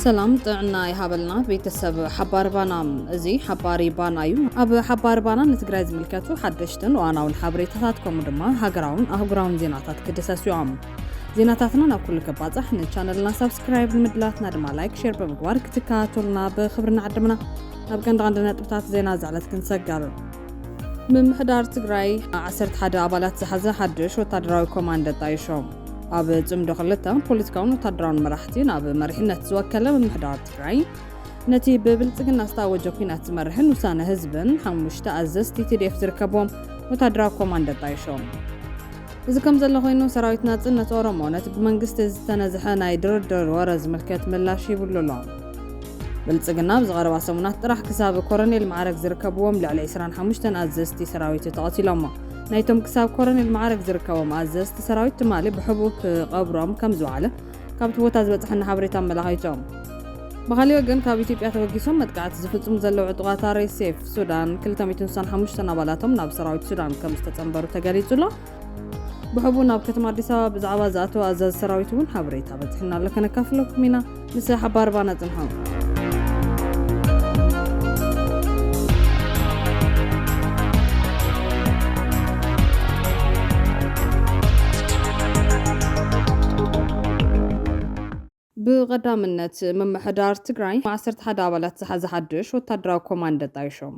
ሰላም ጥዕና ይሃበልና ቤተሰብ ሓባሪ ባና እዚ ሓባሪ ባና እዩ ኣብ ሓባሪ ባና ንትግራይ ዝምልከቱ ሓደሽትን ዋናውን ሓበሬታታት ከምኡ ድማ ሃገራውን ኣህጉራውን ዜናታት ክድሰሱ እዮም ዜናታትና ናብ ኩሉ ከባጻሕ ንቻነልና ሳብስክራይብ ንምድላትና ድማ ላይክ ሼር ብምግባር ክትከታተሉና ብክብሪ ንዓድምና ናብ ቀንዲ ቀንዲ ነጥብታት ዜና ዝዕለት ክንሰገር ምምሕዳር ትግራይ 11 ኣባላት ዝሓዘ ሓድሽ ወታደራዊ ኮማንድ ኣጣይሾ ኣብ ጽምዶ ክልተ ፖለቲካውን ወታደራውን መራሕቲ ናብ መሪሕነት ዝወከለ ምምሕዳር ትግራይ ነቲ ብብልጽግና ዝታወጀ ኩናት ዝመርሕን ውሳነ ህዝብን ሓሙሽተ ኣዘዝቲ ቲዲኤፍ ዝርከቦም ወታደራዊ ኮማንድ ኣጣይሾም እዚ ከምዘሎ ኮይኑ ሰራዊት ናጽነት ኦሮሞ ነቲ ብመንግስቲ ዝተነዝሐ ናይ ድርድር ወረ ዝምልከት ምላሽ ሂብሉ ኣሎ። ብልጽግና ኣብዚ ቀረባ ሰሙናት ጥራሕ ክሳብ ኮረኔል መዓረግ ዝርከብዎም ልዕሊ ዕስራን ሓሙሽተን ኣዘዝቲ ሰራዊቱ ተቐቲሎሞ። ናይቶም ክሳብ ኮረኔል መዓረግ ዝርከቦም ኣዘዝቲ ሰራዊት ትማሊ ብሕቡእ ክቐብሮም ከምዝወዓለ ካብቲ ቦታ ዝበጽሓና ሓበሬታ ኣመላኺቱ። ብኻሊእ ወገን ካብ ኢትዮጵያ ተበጊሶም መጥቃዕቲ ዝፍጽሙ ዘለዉ ዕጡቓት ኣርኤስኤፍ ሱዳን ክልተ ሚእትን ስሳን ሓሙሽተን ኣባላቶም ናብ ሰራዊት ሱዳን ከምዝተጸንበሩ ተገሊጹ ኣሎ። ብሕቡእ ናብ ከተማ ኣዲስ ኣበባ ብዛዕባ ዝኣተወ ኣዛዚ ሰራዊት እውን ሓበሬታ በጺሑና ኣሎ ከነካፍለኩም ኢና። ምስ ሓባርባና ጽንሑ። ብቐዳምነት ምምሕዳር ትግራይ ዓሰርተ ሓደ ኣባላት ዝሓዘ ሓድሽ ወታደራዊ ኮማንድ ኣጣይሾም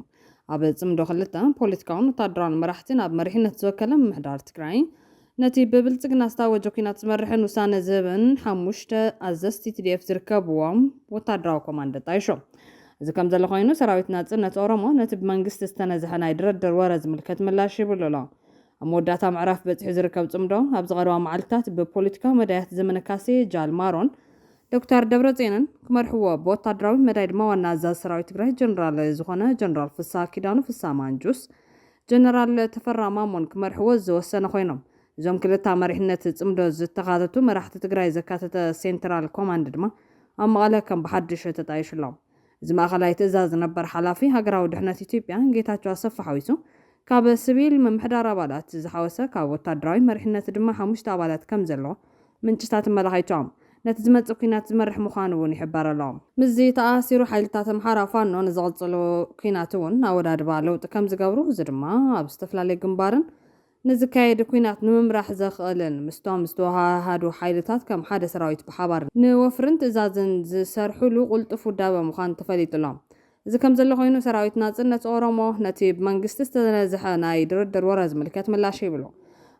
ኣብ ፅምዶ ክልተ ፖለቲካውን ወታደራውን መራሕቲ ናብ መሪሕነት ዝወከለ ምምሕዳር ትግራይ ነቲ ብብልጽግና ዝታወጀ ኲናት ዝመርሕን ውሳነ ዝህብን ሓሙሽተ ኣዘዝቲ tdf ዝርከብዎም ወታደራዊ ኮማንዶ ጣይሾም። እዚ ከምዘሎ ኮይኑ ሰራዊት ናጽነት ኦሮሞ ነቲ ብመንግስቲ ዝተነዝሐ ናይ ድረድር ወረ ዝምልከት ምላሽ ሂብሉ ኣሎ። ኣብ መወዳእታ ምዕራፍ በጺሑ ዝርከብ ጽምዶ ኣብዚ ቀረባ መዓልታት ብፖለቲካዊ መዳያት ዘመነ ካሴ፣ ጃል ማሮን፣ ዶክተር ደብረጽዮንን ክመርሕዎ ብወታደራዊ መዳይ ድማ ዋና ኣዛዚ ሰራዊት ትግራይ ጀነራል ዝኾነ ጀነራል ፍስሃ ኪዳኑ፣ ፍስሃ ማንጁስ፣ ጀነራል ተፈራ ማሞን ክመርሕዎ ዝወሰነ ኮይኖም፣ እዞም ክልተ ኣብ መሪሕነት ፅምዶ ዝተኻተቱ መራሕቲ ትግራይ ዘካተተ ሴንትራል ኮማንድ ድማ ኣብ መቐለ ከም ብሓዱሽ ተጣይሹ ኣሎ። እዚ ማእኸላይ ትእዛዝ ነበር ሓላፊ ሃገራዊ ድሕነት ኢትዮጵያ ጌታቸው ኣሰፋ ሓዊሱ ካብ ስቪል ምምሕዳር ኣባላት ዝሓወሰ ካብ ወታደራዊ መሪሕነት ድማ ሓሙሽተ ኣባላት ከም ዘለዎ ምንጭታት ኣመላኺቶም። ነቲ ዝመጽእ ኲናት ዝመርሕ ምዃኑ እውን ይሕበር ኣሎ። ምስዚ ተኣሳሲሩ ሓይልታት ኣምሓራ ፋኖ ንዝቕጽሉ ኲናት እውን ኣወዳድባ ለውጢ ከም ዝገብሩ፣ እዚ ድማ ኣብ ዝተፈላለዩ ግንባርን ንዝካየድ ኲናት ንምምራሕ ዘኽእልን ምስቶም ዝተወሃሃዱ ሓይልታት ከም ሓደ ሰራዊት ብሓባር ንወፍርን ትእዛዝን ዝሰርሑሉ ቅልጡፍ ውዳበ ምዃኑ ተፈሊጡ ኣሎ። እዚ ከምዘሎ ኮይኑ ሰራዊት ናጽነት ኦሮሞ ነቲ ብመንግስቲ ዝተነዝሐ ናይ ድርድር ወረ ዝምልከት ምላሽ ሂብሉ።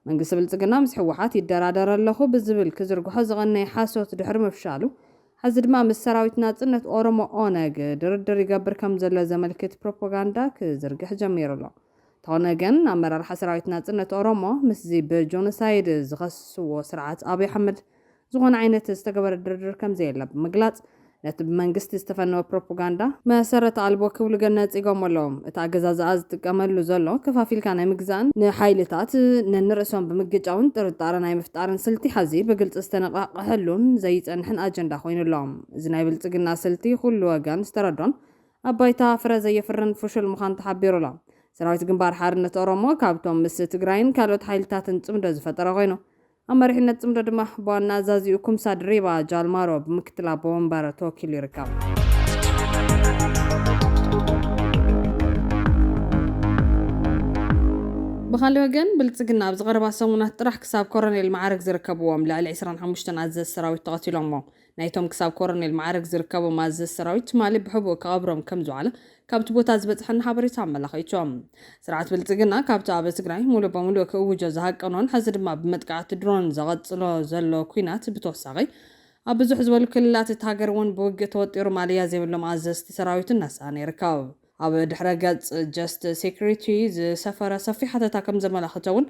መንግስቲ ብልጽግና ምስ ህወሓት ይደራደር ኣለኹ ብዝብል ክዝርግሖ ዝቐነየ ሓሶት ድሕሪ ምፍሻሉ ሐዚ ድማ ምስ ሰራዊት ናጽነት ኦሮሞ፣ ኦነግ፣ ድርድር ይገብር ከምዘሎ ዘመልክት ፕሮፖጋንዳ ክዝርግሕ ጀሚሩ'ሎ። እንተኾነ ግን ኣመራርሓ ሰራዊት ናጽነት ኦሮሞ ምስዚ ብጆኖሳይድ ዝኸስዎ ስርዓት ኣብይ ኣሕመድ ዝኾነ ዓይነት ዝተገበረ ድርድር ከምዘየለ ብምግላፅ ነቲ ብመንግስቲ ዝተፈነወ ፕሮፖጋንዳ መሰረት ኣልቦ ክብሉ ግን ነፂጎሞ ኣለዉ። እቲ ኣገዛዝኣ ዝጥቀመሉ ዘሎ ከፋፊልካ ናይ ምግዛእን ንሓይልታት ነንርእሶም ብምግጫውን ጥርጣረ ናይ ምፍጣርን ስልቲ ሐዚ ብግልፂ ዝተነቓቕሐሉን ዘይፀንሕን ኣጀንዳ ኮይኑ ኣሎ። እዚ ናይ ብልፅግና ስልቲ ኩሉ ወገን ዝተረዶን ኣብ ባይታ ፍረ ዘየፍርን ፍሹል ምዃኑ ተሓቢሩ ኣሎ። ሰራዊት ግንባር ሓርነት ኦሮሞ ካብቶም ምስ ትግራይን ካልኦት ሓይልታትን ፅምዶ ዝፈጠረ ኮይኑ፣ ኣብ መሪሕነት ጽምዶ ድማ ብዋና ኣዛዚኡ ኩምሳ ድሪባ፣ ጃል ማሮ፣ ብምክትል ኣቦ ወንበር ተወኪሉ ይርከብ። ብኻልእ ወገን ብልጽግና ኣብዚ ቀረባ ሰሙናት ጥራሕ ክሳብ ኮረኔል መዓርግ ዝርከብዎም ልዕሊ ዕስራን ሓሙሽተን ኣዘዝቲ ሰራዊት ተቐቲሎሞ። ናይቶም ክሳብ ኮረኔል መዓርግ ዝርከቦም ኣዘዝቲ ሰራዊት ትማሊ ብሕቡእ ክቐብሮም ከምዝወዓለ ካብቲ ቦታ ዝበፅሐና ሓበሬታ ኣመላኺቱ። ስርዓት ብልፅግና ካብቲ ኣብ ትግራይ ሙሉእ በሙሉእ ክእውጆ ዝሃቀኖን ሕዚ ድማ ብመጥቃዕቲ ድሮን ዘቐፅሎ ዘሎ ኲናት ብተወሳኺ ኣብ ብዙሕ ዝበሉ ክልላት እታ ሃገር እውን ብውግእ ተወጢሩ ማለያ ዘይብሎም ኣዘዝቲ ሰራዊቱ እናሰኣነ ይርከብ። ኣብ ድሕረ ገጽ ጀስት ሴኩሪቲ ዝሰፈረ ሰፊሕ ሓተታ ከም ዘመላኽቶ'ውን፣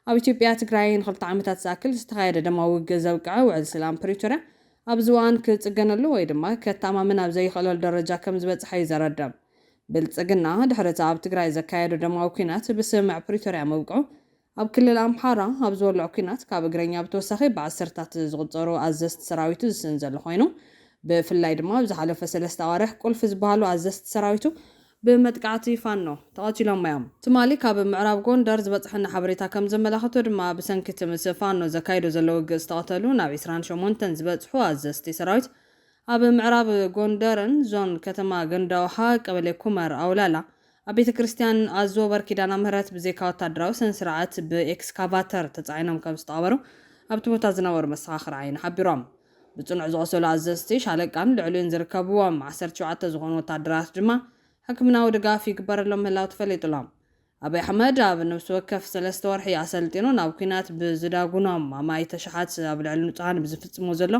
ኣብ ኢትዮጵያ ትግራይ ንኽልተ ዓመታት ዝኣክል ዝተኻየደ ደማዊ ውግእ ዘብቅዐ ውዕል ስላም ፕሪቶርያ ኣብዚ እዋን ክጽገነሉ ወይ ድማ ከተኣማምን ኣብ ዘይኽእለሉ ደረጃ ከም ዝበጽሐ'ዩ ዘረድእ። ብልጽግና ድሕሪ'ቲ ኣብ ትግራይ ዘካየዶ ደማዊ ኲናት ብስምምዕ ፕሪቶርያ ምብቅዑ፣ ኣብ ክልል ኣምሓራ ኣብ ዝወልዖ ኲናት ካብ እግረኛ ብተወሳኺ ብዓሰርታት ዝቑጸሩ ኣዘዝቲ ሰራዊቱ ዝስእን ዘሎ ኮይኑ፣ ብፍላይ ድማ ኣብ ዝሓለፈ ሰለስተ ኣዋርሕ ቁልፊ ዝበሃሉ ኣዘዝቲ ሰራዊቱ፣ ብመጥቃዕቲ ፋኖ ተቐቲሎም'ዮም። ትማሊ ካብ ምዕራብ ጎንደር ዝበጽሐና ሓበሬታ ከም ዘመላኽቶ ድማ፣ ብሰንኪ'ቲ ምስ ፋኖ ዘካይዶ ዘሎ ውግእ ዝተቐተሉ ናብ ዕስራን ሸሞንተን ዝበጽሑ ኣዘዝቲ ሰራዊት፣ ኣብ ምዕራብ ጎንደርን ዞን ከተማ ገንዳውሃ ቀበሌ ኩመር ኣውላላ ኣብ ቤተ ክርስቲያን ኣዞበር ኪዳና ምህረት ብዘይካ ወታደራዊ ሰነ ስርዓት ብኤክስካቫተር ተጻዒኖም ከም ዝተቐበሩ ኣብቲ ቦታ ዝነበሩ መሰኻኽር ዓይኒ ሓቢሮም። ብጽኑዕ ዝቖሰሉ ኣዘዝቲ ሻለቃን ልዕሊኡን ዝርከብዎም ዓሰርተ ሸውዓተ ዝኾኑ ወታደራት ድማ ሕክምናዊ ድጋፍ ይግበረሎም ምህላው ተፈሊጡ'ሎ። ኣብይ ኣሕመድ ኣብ ነብሲ ወከፍ ሰለስተ ወርሒ ኣሰልጢኑ ናብ ኲናት ብዝዳጉኖም ኣማኢት ኣሽሓት ኣብ ልዕሊ ንጹሃን ብዝፍጽሞ ዘሎ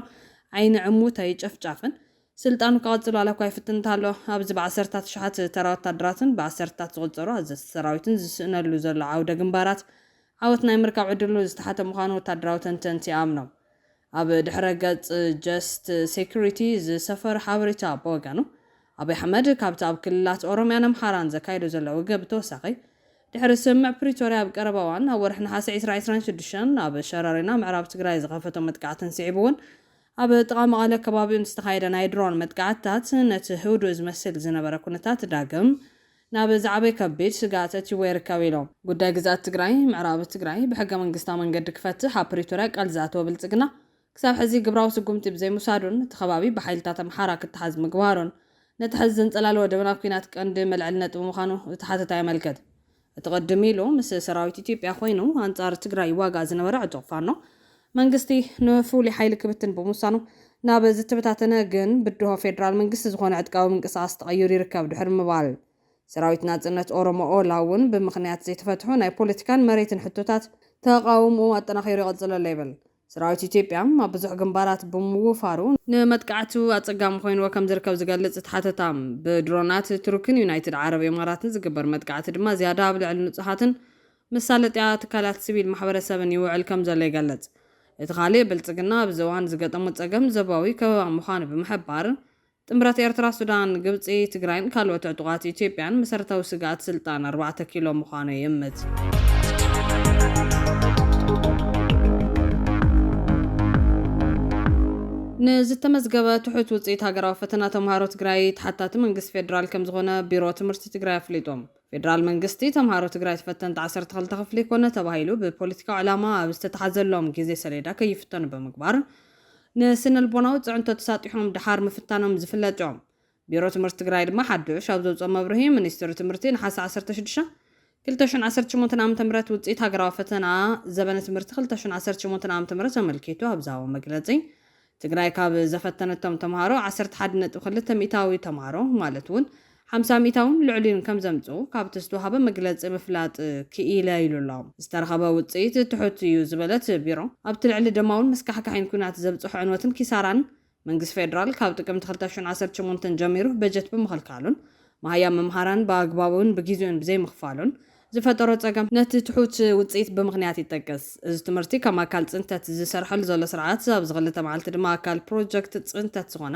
ዓይኒ ዕሙት ጨፍጫፍን ስልጣኑ ክቕጽል ዋላኳ ይፍትን እንተሃሎ፣ ኣብዚ ብዓሰርታት ኣሽሓት ተራ ወታደራትን ብዓሰርታት ዝቑጸሩ ኣዘዝቲ ሰራዊትን ዝስእነሉ ዘሎ ዓውደ ግንባራት፣ ዓወት ናይ ምርካብ ዕድሉ ዝተሓተ ምዃኑ ወታደራዊ ተንተንቲ ይኣምኑ። ኣብ ድሕረ ገጽ Just Security ዝሰፈረ ሓበሬታ ብወገኑ፣ ኣብይ ኣሕመድ ካብቲ ኣብ ክልላት ኦሮምያን ኣምሓራን ዘካይዶ ዘሎ ውግእ ብተወሳኺ፣ ድሕሪ ስምምዕ ፕሪቶርያ ኣብ ቀረባ እዋን ኣብ ወርሒ ነሓሰ ዕስራ ዕስራን ሽዱሽተን ኣብ ሸረሪና ምዕራብ ትግራይ ዝኸፈቶ መጥቃዕትን ስዒቡ'ውን ኣብ ጥቓ መቐለ ከባቢኡን ዝተኻየደ ናይ ድሮን መጥቃዕትታት ነቲ ህዱእ ዝመስል ዝነበረ ኩነታት ዳግም ናብ ዝዓበየ ከቢድ ስግኣት ኣእትይዎ ይርከብ ኢሎም። ጉዳይ ግዝኣት ትግራይ፣ ምዕራብ ትግራይ፣ ብሕገ መንግስታዊ መንገዲ ክፈትሕ ኣብ ፕሪቶርያ ቃል ዝኣተወ ብልፅግና ክሳብ ሕዚ ግብራዊ ስጉምቲ ብዘይምውሳዱን እቲ ከባቢ ብሓይልታት ኣምሓራ ክተሓዝ ምግባሩን ነቲ ሕዚ ዘንፀላለወ ደበና ኲናት ቀንዲ መልዐሊ ነጥቢ ምዃኑ እቲ ሓተታ የመልክት። እቲ ቅድም ኢሉ ምስ ሰራዊት ኢትዮጵያ ኮይኑ ኣንፃር ትግራይ ይዋጋእ ዝነበረ ዕጡቕ ፋኖ መንግስቲ ንፍሉይ ሓይሊ ክብትን ብምውሳኑ ናብ ዝተበታተነ ግን ብድሆ ፌዴራል መንግስቲ ዝኾነ ዕጥቃዊ ምንቅስቓስ ተቐይሩ ይርከብ ድሕሪ ምባል ሰራዊት ናፅነት ኦሮሞ ኦላ እውን ብምኽንያት ዘይተፈትሑ ናይ ፖለቲካን መሬትን ሕቶታት ተቓውምኡ ኣጠናኺሩ ይቕፅል ኣሎ ይብል። ሰራዊት ኢትዮጵያ ኣብ ብዙሕ ግንባራት ብምውፋሩ፣ ንመጥቃዕቱ ኣጸጋሚ ኮይንዎ ከምዝርከብ ዝገልጽ እቲ ሓተታ፣ ብድሮናት ቱርክን ዩናይትድ ዓረብ ኢማራትን ዝግበር መጥቃዕቲ ድማ ዝያዳ ኣብ ልዕሊ ንጹሃትን መሳለጥያ ትካላት ሲቪል ማሕበረሰብን ይውዕል ከምዘሎ ይገልጽ። እቲ ካልእ፣ ብልጽግና ኣብዚ እዋን ዝገጠሞ ጸገም ዞባዊ ከበባ ምዃኑ ብምሕባር፣ ጥምረት ኤርትራ፣ ሱዳን፣ ግብጺ፣ ትግራይን ካልኦት ዕጡቓት ኢትዮጵያን መሰረታዊ ስግኣት ስልጣን ኣርባዕተ ኪሎ ምዃኑ ይእምት። ንዝተመዝገበ ትሑት ውፅኢት ሃገራዊ ፈተና ተምሃሮ ትግራይ ተሓታቲ መንግስቲ ፌዴራል ከምዝኾነ ቢሮ ትምህርቲ ትግራይ ኣፍሊጡ። ፌዴራል መንግስቲ ተምሃሮ ትግራይ ተፈተንቲ ዓሰርተ ክልተ ክፍሊ ኮነ ተባሂሉ ብፖለቲካዊ ዕላማ ኣብ ዝተትሓዘሎም ግዜ ሰሌዳ ከይፍተኑ ብምግባር ንስነልቦናዊ ፅዕንቶ ተሳጢሖም ደሓር ምፍታኖም ዝፍለጥ ዩ። ቢሮ ትምህርቲ ትግራይ ድማ ሓዱሽ ኣብ ዘውፅኦ መብርሂ ሚኒስትሪ ትምህርቲ ነሓሰ ዓሰርተ ሽዱሽተ፣ ክልተ ሽሕን ዓሰርተ ሸሞንተን ዓመተ ምህረት ውፅኢት ሃገራዊ ፈተና ዘበነ ትምህርቲ ክልተ ሽሕን ዓሰርተ ሸሞንተን ዓመተ ምህረት ኣመልኪቱ ኣብ ዝሃቦ መግለፂ ትግራይ ካብ ዘፈተነቶም ተምሃሮ ዓሰርተ ሓደ ነጥቢ ክልተ ሚኢታዊ ተምሃሮ ማለት ውን ሓምሳ ሚእታውን ልዕሊኡን ከም ዘምጽኡ ካብቲ ዝተዋህበ መግለጺ ምፍላጥ ክኢለ ኢሉ ኣሎ። ዝተረኸበ ውጽኢት ትሑት እዩ ዝበለ እቲ ቢሮ፣ ኣብቲ ልዕሊ ደማውን መስካሕካሒን ኲናት ዘብጽሖ ዕንወትን ኪሳራን፣ መንግስቲ ፌደራል ካብ ጥቅምቲ ክልተ ሽሕን ዓሰርተ ሸሞንተን ጀሚሩ በጀት ብምኽልካሉን መሃያ መምሃራን ብኣግባቡን ብጊዜኡን ብዘይምኽፋሉን ዝፈጠሮ ጸገም ነቲ ትሑት ውጽኢት ብምኽንያት ይጠቅስ። እዚ ትምህርቲ ከም ኣካል ጽንተት ዝሰርሐሉ ዘሎ ስርዓት ኣብዚ ክልተ መዓልቲ ድማ ኣካል ፕሮጀክት ጽንተት ዝኾነ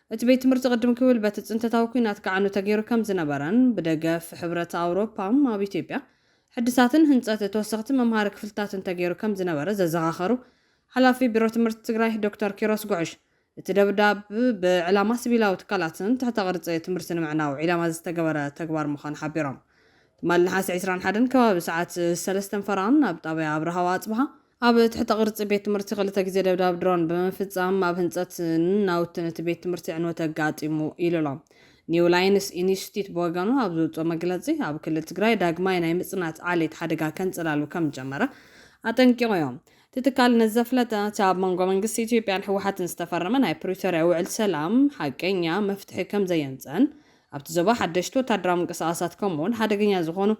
እቲ ቤት ትምህርቲ ቅድም ክብል በቲ ፅንተታዊ ኲናት ክዓኑ ተገይሩ ከም ዝነበረን ብደገፍ ሕብረት ኣውሮፓ ኣብ ኢትዮጵያ ሕድሳትን ህንፀት ተወሰኽቲ መምሃሪ ክፍልታትን ተገይሩ ከም ዝነበረ ዘዘኻኸሩ ሓላፊ ቢሮ ትምህርቲ ትግራይ ዶክተር ኪሮስ ጉዕሽ እቲ ደብዳብ ብዕላማ ስቪላዊ ትካላትን ትሕተ ቅርፂ ትምህርቲ ንምዕናው ዒላማ ዝተገበረ ተግባር ምዃኑ ሓቢሮም ትማሊ ነሓሰ ዕስራን ሓደን ከባቢ ሰዓት ሰለስተን ፈረቓን ኣብ ጣብያ ኣብርሃ ወኣፅብሃ ኣብ ትሕተ ቅርጺ ቤት ትምህርቲ ክልተ ግዜ ደብዳብ ድሮን ብምፍጻም ኣብ ህንጸትን ናውትን እቲ ቤት ትምህርቲ ዕንወት ኣጋጢሙ ኢሉ'ሎ። ኒው ላይንስ ኢንስቲትዩት ብወገኑ ኣብ ዘውጽኦ መግለጺ፣ ኣብ ክልል ትግራይ ዳግማይ ናይ ምጽናት ዓሌት ሓደጋ ከንጸላሉ ከም ዝጀመረ ኣጠንቂቑዮ። እቲ ትካል ነዚ ዘፍለጠ፣ እቲ ኣብ መንጎ መንግስቲ ኢትዮጵያን ህወሓትን ዝተፈረመ ናይ ፕሪቶርያ ውዕል ሰላም ሓቀኛ መፍትሒ ከም ዘየምጽእን ኣብቲ ዞባ ሓደሽቲ ወታደራዊ ምንቅስቓሳት ከምኡ'ውን ሓደገኛ ዝኾኑ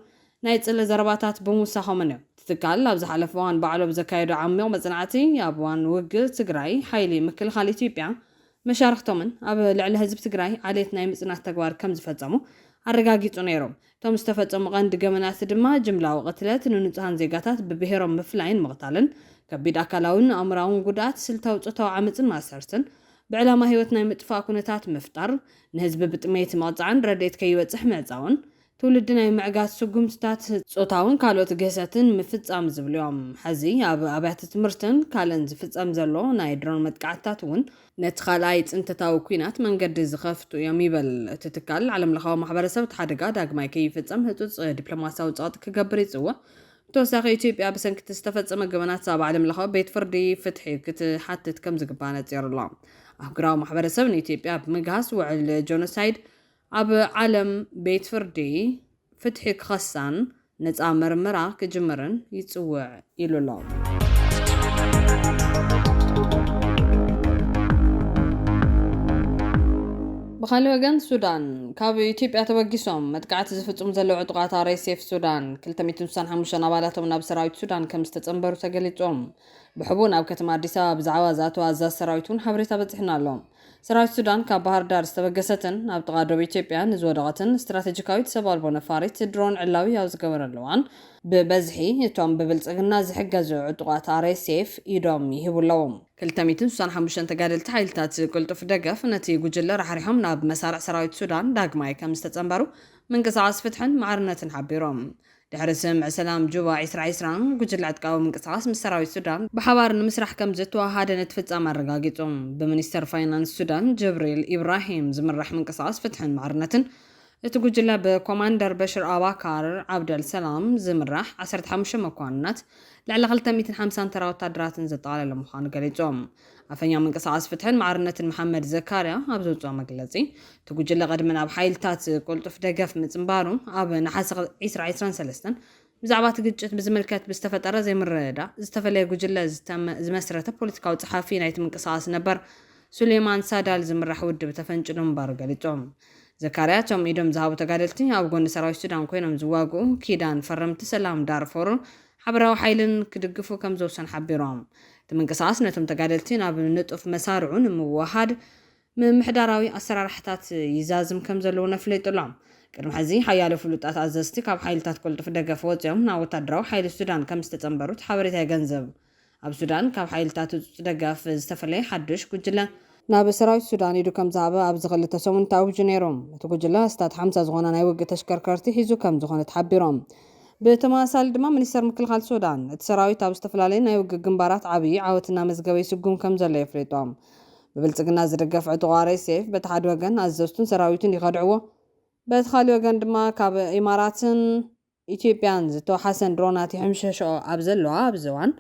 ናይ ጽልኢ ዘረባታት ብምውሳኾምን እዮም። እቲ ትካል ኣብ ዝሓለፈ እዋን ባዕሉ ኣብ ዘካየዶ ዓሚቕ መጽናዕቲ፣ ኣብ እዋን ውግእ ትግራይ ሓይሊ ምክልኻል ኢትዮጵያ፣ መሻርኽቶምን ኣብ ልዕሊ ህዝቢ ትግራይ ዓሌት ናይ ምጽናት ተግባር ከም ዝፈጸሙ ኣረጋጊጹ ነይሩ። እቶም ዝተፈጸሙ ቀንዲ ገበናት ድማ ጅምላዊ ቅትለት፣ ንንጹሃን ዜጋታት ብብሄሮም ምፍላይን ምቕታልን፣ ከቢድ ኣካላዊን ኣእምሮኣውን ጉድኣት፣ ስልታዊ ጾታዊ ዓመጽን ማእሰርትን፣ ብዕላማ ህይወት ናይ ምጥፋእ ኩነታት ምፍጣር፣ ንህዝቢ ብጥሜት ምቕጻዕን ረድኤት ከይበጽሕ ምዕጻውን ትውልዲ ናይ ምዕጋት ስጉምትታት፣ ጾታውን ካልኦት ግህሰትን ምፍጻም ዝብሉ እዮም። ሕዚ ኣብ ኣብያተ ትምህርትን ካልእን ዝፍጸም ዘሎ ናይ ድሮን መጥቃዕትታት እውን፣ ነቲ ካልኣይ ጽንተታዊ ኲናት መንገዲ ዝኸፍቱ እዮም ይብል እቲ ትካል። ዓለምለኻዊ ማሕበረሰብ እቲ ሓደጋ ዳግማይ ከይፍጸም ህጹጽ ዲፕሎማስያዊ ጸቕጢ ክገብር ይጽውዕ። ብተወሳኺ ኢትዮጵያ ብሰንኪ እቲ ዝተፈጸመ ገበናት ኣብ ዓለምለኻዊ ቤት ፍርዲ ፍትሒ ክትሓትት ከምዝግባእ ነጺሩ ኣሎ። ኣህጉራዊ ማሕበረሰብ ንኢትዮጵያ ብምግሃስ ውዕል ጆኖሳይድ ኣብ ዓለም ቤት ፍርዲ ፍትሒ ክኸሳን ነፃ ምርመራ ክጅምርን ይፅውዕ ኢሉ ኣሎ። ብኻሊእ ወገን ሱዳን ካብ ኢትዮጵያ ተበጊሶም መጥቃዕቲ ዝፍፅሙ ዘለዉ ዕጡቓት RSF ሱዳን ክልተ ሚእትን ስሳን ሓሙሽተን ኣባላቶም ናብ ሰራዊት ሱዳን ከምዝተፀምበሩ ተገሊፁ። ብሕቡእ ናብ ከተማ ኣዲስ ኣበባ ብዛዕባ ዝኣተዉ ኣዛዚ ሰራዊት እውን ሓበሬታ በፂሑና ኣሎ። ሰራዊት ሱዳን ካብ ባህርዳር ዝተበገሰትን ኣብ ጥቓ ዶብ ኢትዮጵያ ንዝወደቐትን ስትራቴጂካዊት ሰብ ኣልቦ ነፋሪት ድሮን ዕላዊ ኣብ ዝገበረሉ እዋን፣ ብበዝሒ እቶም ብብልጽግና ዝሕገዙ ዕጡቓት RSF ኢዶም ይህቡ ኣለዉ። ክልተ ሚእትን ስሳን ሓሙሽተን ተጋደልቲ ሓይልታት ቅልጡፍ ደገፍ ነቲ ጉጅለ ራሕሪሖም ናብ መሳርዕ ሰራዊት ሱዳን ዳግማይ ከምዝተጸንበሩ ምንቅስቓስ ፍትሕን ማዕርነትን ሓቢሩ። ድሕሪ ስምምዕ ሰላም ጁባ ዕስራ ዕስራ፣ ጉጅለ ዕጥቃዊ ምንቅስቓስ ምስ ሰራዊት ሱዳን ብሓባር ንምስራሕ ከምዝተወሃሃደ ነቲ ፍጻመ ኣረጋጊጹ። ብሚኒስተር ፋይናንስ ሱዳን ጅብሪል ኢብራሂም ዝምራሕ ምንቅስቓስ ፍትሕን ማዕርነትን፣ እቲ ጉጅለ ብኮማንደር በሽር ኣባካር ዓብደል ሰላም ዝምራሕ ዓሰርተ ሓሙሽተ መኳንናት፣ ልዕሊ ክልተ ሚእትን ሓምሳን ተራ ወታደራትን ዘጠቓለለ ምዃኑ ገሊጹ። ኣፈኛ ምንቅስቓስ ፍትሕን ማዕርነትን መሓመድ ዘካርያ ኣብ ዘውጽኦ መግለጺ፣ እቲ ጉጅለ ቅድሚ ናብ ሓይልታት ቅልጡፍ ደገፍ ምጽንባሩ፣ ኣብ ነሓሰ ዕስራ ዕስራን ሰለስተን፣ ብዛዕባ እቲ ግጭት ብዝምልከት ብዝተፈጠረ ዘይምርድዳእ ዝተፈለየ ጉጅለ ዝመስረተ ፖለቲካዊ ጸሓፊ ናይቲ ምንቅስቓስ ነበር ሱሌማን ሳዳል ዝምራሕ ውድብ ተፈንጭሉ ምንባሩ ገሊጾም። ዘካርያ እቶም ኢዶም ዝሃቡ ተጋደልቲ ኣብ ጎኒ ሰራዊት ሱዳን ኮይኖም ዝዋግኡ ኪዳን ፈረምቲ ሰላም ዳርፎርን ሓበራዊ ሓይልን ክድግፉ ከምዘውሰኑ ሓቢሮም። እቲ ምንቅስቓስ ነቶም ተጋደልቲ ናብ ንጡፍ መሳርዑ ንምውህሃድ ምምሕዳራዊ ኣሰራርሓታት ይዛዝም ከምዘሎ እውን ኣፍሊጡ'ሎ። ቅድሚ ሕዚ ሓያሎ ፍሉጣት ኣዘዝቲ ካብ ሓይልታት ቅልጡፍ ደገፍ ወጺኦም ናብ ወታደራዊ ሓይሊ ሱዳን ከምዝተጸንበሩ እቲ ሓበሬታ የገንዝብ። ኣብ ሱዳን ካብ ሓይልታት ህጹጽ ደገፍ ዝተፈለየ ሓዱሽ ጉጅለ፣ ናብ ሰራዊት ሱዳን ኢዱ ከምዝሃበ ኣብዚ ክልተ ሰሙን ተኣዊጁ ነይሩ። እቲ ጉጅለ ኣስታት ሓምሳ ዝኾና ናይ ውግእ ተሽከርከርቲ ሒዙ ከምዝኾነ ተሓቢሩ። ብተመሳሳሊ ድማ ሚኒስተር ምክልኻል ሱዳን፣ እቲ ሰራዊት ኣብ ዝተፈላለዩ ናይ ውግእ ግንባራት ዓብይ ዓወት እናመዝገበ ይስጉም ከምዘሎ የፍሊጡ። ብብልጽግና ዝድገፍ ዕጡቕ RSF በቲ ሓደ ወገን ኣዘዝቱን ሰራዊቱን ይኸድዕዎ፣ በቲ ካሊእ ወገን ድማ ካብ ኢማራትን፣ ኢትዮጵያን ዝተውሓሰን ድሮናት ይሕምሸሸኦ ኣብ ዘለዋ ኣብዚ እዋን፣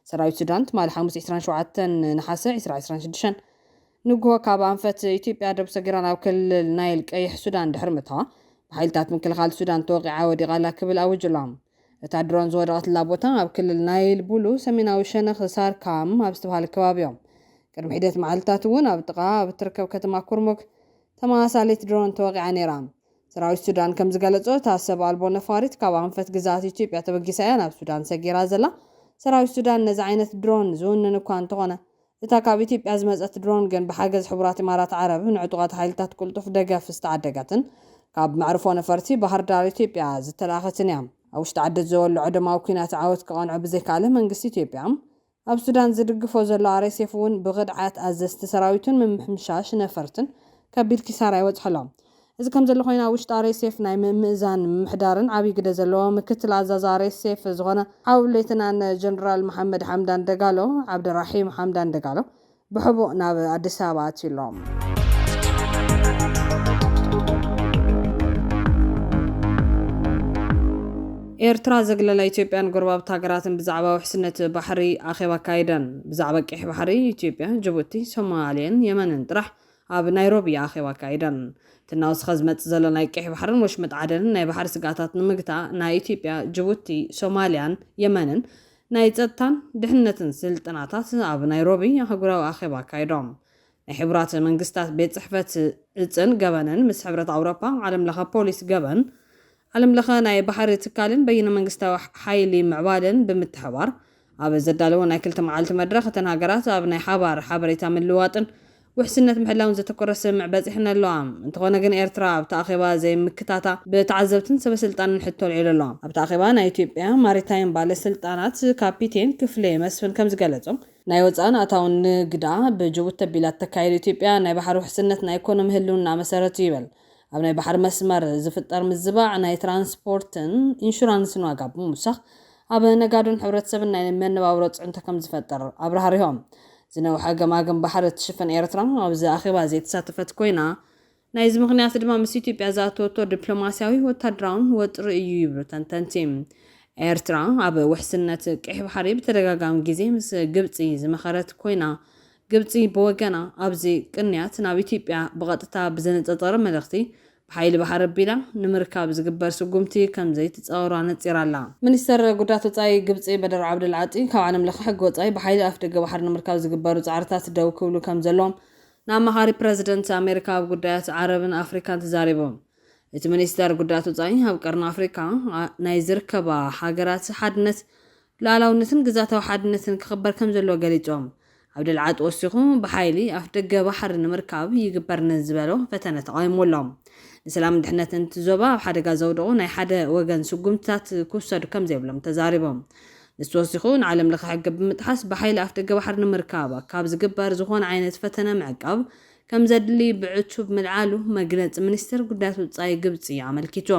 ሰራዊት ሱዳን ትማሊ ሓሙስ ዕስራን ሸውዓተን ነሓሰ ዕስራ ዕስራን ሽዱሽተን ንጉሆ ካብ ኣንፈት ኢትዮጵያ ዶብ ሰጊራ ናብ ክልል ናይል ቀይሕ ሱዳን ድሕሪ ምእታዋ ብሓይልታት ምክልኻል ሱዳን ተወቒዓ ወዲቓ ኣላ ክብል ኣዊጁ ኣሎ። እታ ድሮን ዝወደቐትላ ቦታ ኣብ ክልል ናይል ቡሉ ሰሜናዊ ሸነኽ ሳርካም ኣብ ዝተብሃለ ከባቢ'ዮም። ቅድሚ ሒደት መዓልትታት እውን ኣብ ጥቓ ኣብ እትርከብ ከተማ ኩርሙክ ተመሳሳሊት ድሮን ተወቒዓ ነይራ። ሰራዊት ሱዳን ከም ዝገለጾ፣ እታ ሰብ ኣልቦ ነፋሪት ካብ ኣንፈት ግዝኣት ኢትዮጵያ ተበጊሳ እያ ናብ ሱዳን ሰጊራ ዘላ። ሰራዊት ሱዳን ነዚ ዓይነት ድሮን ዝውንን እኳ እንተኾነ፣ እታ ካብ ኢትዮጵያ ዝመጸት ድሮን ግን ብሓገዝ ሕቡራት ኢማራት ዓረብ ንዕጡቓት ሓይልታት ቅልጡፍ ደገፍ ዝተዓደገትን ካብ መዕርፎ ነፈርቲ ባህርዳር ኢትዮጵያ ዝተላእኸትን እያ። ኣብ ውሽጢ ዓዲ ዝወልዖ ደማዊ ኲናት ዓወት ክቐንዖ ብዘይከኣለ መንግስቲ ኢትዮጵያ፣ ኣብ ሱዳን ዝድግፎ ዘሎ ኣርኤስኤፍ እውን ብኽድዓት ኣዘዝቲ ሰራዊቱን ምምሕምሻሽ ነፈርትን ከቢድ ኪሳራ ይበፅሖ'ሎ። እዚ ከምዘሎ ኮይኑ ኣብ ውሽጢ ኣርኤስኤፍ ናይ ምምእዛን ምምሕዳርን ዓብይ ግደ ዘለዎ ምክትል ኣዛዚ ኣርኤስኤፍ ዝኾነ ሓው ሌተናን ጀነራል መሓመድ ሓምዳን ደጋሎ፣ ዓብደራሒም ሓምዳን ደጋሎ፣ ብሕቡእ ናብ ኣዲስ ኣበባ ኣትዩ ኣሎ። ኤርትራ ዘግለላ ኢትዮጵያን ጎረባብቲ ሃገራትን ብዛዕባ ውሕስነት ባሕሪ ኣኼባ ኣካይደን። ብዛዕባ ቀይሕ ባሕሪ ኢትዮጵያ፣ ጅቡቲ፣ ሶማሌን የመንን ጥራሕ ኣብ ናይሮቢ ኣኼባ ኣካይደን። እቲ እናወሰኸ ዝመጽእ ዘሎ ናይ ቀይሕ ባሕርን ወሽመጥ ዓደንን ናይ ባሕሪ ስግኣታት ንምግታእ ናይ ኢትዮጵያ፣ ጅቡቲ፣ ሶማሊያን የመንን ናይ ጸጥታን ድሕነትን ስልጠናታት ኣብ ናይሮቢ ኣህጉራዊ ኣኼባ ኣካይዶም። ናይ ሕቡራት መንግስታት ቤት ጽሕፈት ዕጽን ገበንን ምስ ሕብረት ኣውሮፓ፣ ዓለም ለኸ ፖሊስ ገበን፣ ዓለም ለኸ ናይ ባሕሪ ትካልን በይነ መንግስታዊ ሓይሊ ምዕባለን ብምትሕብባር ኣብ ዘዳለዎ ናይ ክልተ መዓልቲ መድረኽ እተን ሃገራት ኣብ ናይ ሓባር ሓበሬታ ምልውዋጥን ውሕስነት ምሕላውን ዘተኮረ ስምምዕ በጺሐን ኣለዋ። እንተኾነ ግን ኤርትራ ኣብቲ ኣኼባ ዘይምክታታ ብተዓዘብትን ሰበስልጣንን ሕቶ ኣልዒሉ ኣሎ። ኣብቲ ኣኼባ ናይ ኢትዮጵያ ማሪታይም ባለስልጣናት ካፒቴን ክፍሌ መስፍን ከምዝገለጾ ናይ ወጻእን ኣታውን ንግዳ ብጅቡቲ ኣቢላ እተካይዶ ኢትዮጵያ ናይ ባሕሪ ውሕስነት ናይ ኢኮኖሚ ህልውና መሰረት'ዩ ይበል። ኣብ ናይ ባሕሪ መስመር ዝፍጠር ምዝባዕ ናይ ትራንስፖርትን ኢንሹራንስን ዋጋ ብምውሳኽ ኣብ ነጋዶን ሕብረተሰብን ናይ መነባብሮ ፅዕንቶ ከምዝፈጥር ኣብራህሪሆም። ዝነውሐ ገማግም ባሕሪ እትሽፍን ኤርትራ ኣብዚ ኣኼባ ዘይተሳተፈት ኮይና፣ ናይዚ ምኽንያት ድማ ምስ ኢትዮጵያ ዝኣተወቶ ዲፕሎማስያዊ ወታደራውን ወጥሪ እዩ ይብሉ ተንተንቲ። ኤርትራ ኣብ ውሕስነት ቀይሕ ባሕሪ ብተደጋጋሚ ግዜ ምስ ግብፂ ዝመኸረት ኮይና ግብጺ ብወገና ኣብዚ ቅንያት ናብ ኢትዮጵያ ብቐጥታ ብዘነጸጸረ መልእኽቲ፣ ብሓይሊ ባሕሪ ኣቢላ ንምርካብ ዝግበር ስጉምቲ ከምዘይትጻወሮ ኣነጺራ'ላ። ሚኒስተር ጉዳያት ወጻኢ ግብጺ በደር ዓብደል ዓጢ፣ ካብ ዓለም ለኸ ሕጊ ወጻኢ ብሓይሊ ኣፍደገ ባሕሪ ንምርካብ ዝግበሩ ጻዕርታት ደው ክብሉ ከምዘለዎም ንኣማኻሪ ፕረዚደንት ኣሜሪካ ኣብ ጉዳያት ዓረብን ኣፍሪካን ተዛሪቦም። እቲ ሚኒስተር ጉዳያት ወጻኢ ኣብ ቀርኒ ኣፍሪቃ ናይ ዝርከባ ሃገራት ሓድነት፣ ልኣላውነትን ግዝኣታዊ ሓድነትን ክኽበር ከምዘለዎ ገሊጾም፣ ዓብደልዓጥ ወሲኹ ብሓይሊ ኣፍደገ ባሕሪ ንምርካብ ይግበር ንዝበሎ ፈተነ ተቓዊምዎ ኣሎ። ንሰላምን ድሕነትን እቲ ዞባ ኣብ ሓደጋ ዘውድቑ ናይ ሓደ ወገን ስጉምትታት ክውሰዱ ከምዘይብሎም ተዛሪቦም። ንሱ ወሲኹ ንዓለም ለኸ ሕጊ ብምጥሓስ ብሓይሊ ኣፍደገ ባሕሪ ንምርካብ ካብ ዝግበር ዝኾነ ዓይነት ፈተነ ምዕቃብ ከምዘድሊ ብዕቱብ ምልዓሉ መግለጺ ሚኒስተር ጉዳያት ወጻኢ ግብጺ ኣመልኪቱ።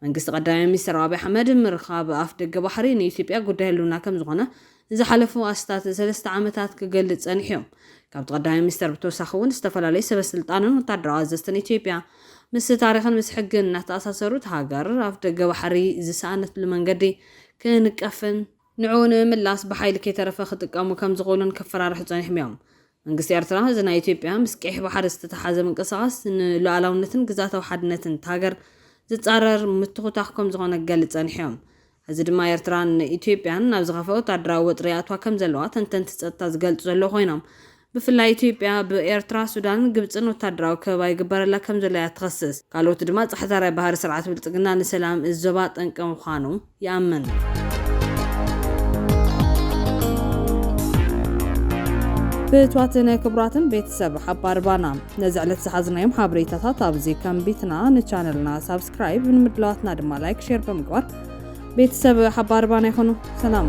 መንግስቲ ቀዳማይ ሚኒስተር ኣቢይ ኣሕመድ፣ ምርኻብ ኣፍደገ ባሕሪ ንኢትዮጵያ ጉዳይ ህልውና ከምዝኾነ ንዝሓለፉ ኣስታት ሰለስተ ዓመታት ክገልጽ ጸኒሑ'ዩ። ካብቲ ቀዳማይ ሚኒስተር ብተወሳኺ'ውን ዝተፈላለዩ ሰበስልጣንን ወታደራዊ ኣዘዝትን ኢትዮጵያ ምስ ታሪኽን ምስ ሕግን እናተኣሳሰሩ እታ ሃገር ኣፍደገ ባሕሪ ዝሰኣነትሉ መንገዲ ክንቀፍን ንዕኡ ንምምላስ ብሓይሊ ከይተረፈ ክጥቀሙ ከምዝኽእሉን ከፈራርሑ ጸኒሑም'ዮም። መንግስቲ ኤርትራ እዚ ናይ ኢትዮጵያ ምስ ቀይሕ ባሕሪ ዝተተሓሓዘ ምንቅስቓስ ንሉኣላውነትን ግዝኣታዊ ሓድነትን እታ ሃገር ዝጻረር ምትኹታኽ ከምዝኾነ ክገልጽ ጸኒሑ'ዮም። ሕዚ ድማ ኤርትራ ን ኢትዮጵያን ናብ ዝኸፍኣ ወታደራዊ ወጥሪ ይኣትዋ ከምዘለዋ ተንተንቲ ጸጥታ ዝገልጹ ዘለዉ ኮይኖም ብፍላይ ኢትዮጵያ ብ ኤርትራ፣ ሱዳንን ግብጽን ወታደራዊ ከበባ ይግበረላ ከምዘሎ'ያ ትኸስስ። ካልኦት ድማ ጻሕታርያ ባህሪ ስርዓት ብልጽግና ንሰላም እዚ ዞባ ጠንቂ ምዃኑ። ይኣምን። ፍትዋትን ክብራትን ቤተሰብ ሓባር ባና ነዚ ዕለት ዝሓዝናዮም ሓበሬታታት ኣብዚ ከምቢትና ንቻነልና ሳብስክራይብ ንምድላዋትና ድማ ላይክ ሼር ብምግባር ቤተሰብ ሓባር ባና ይኹኑ። ሰላም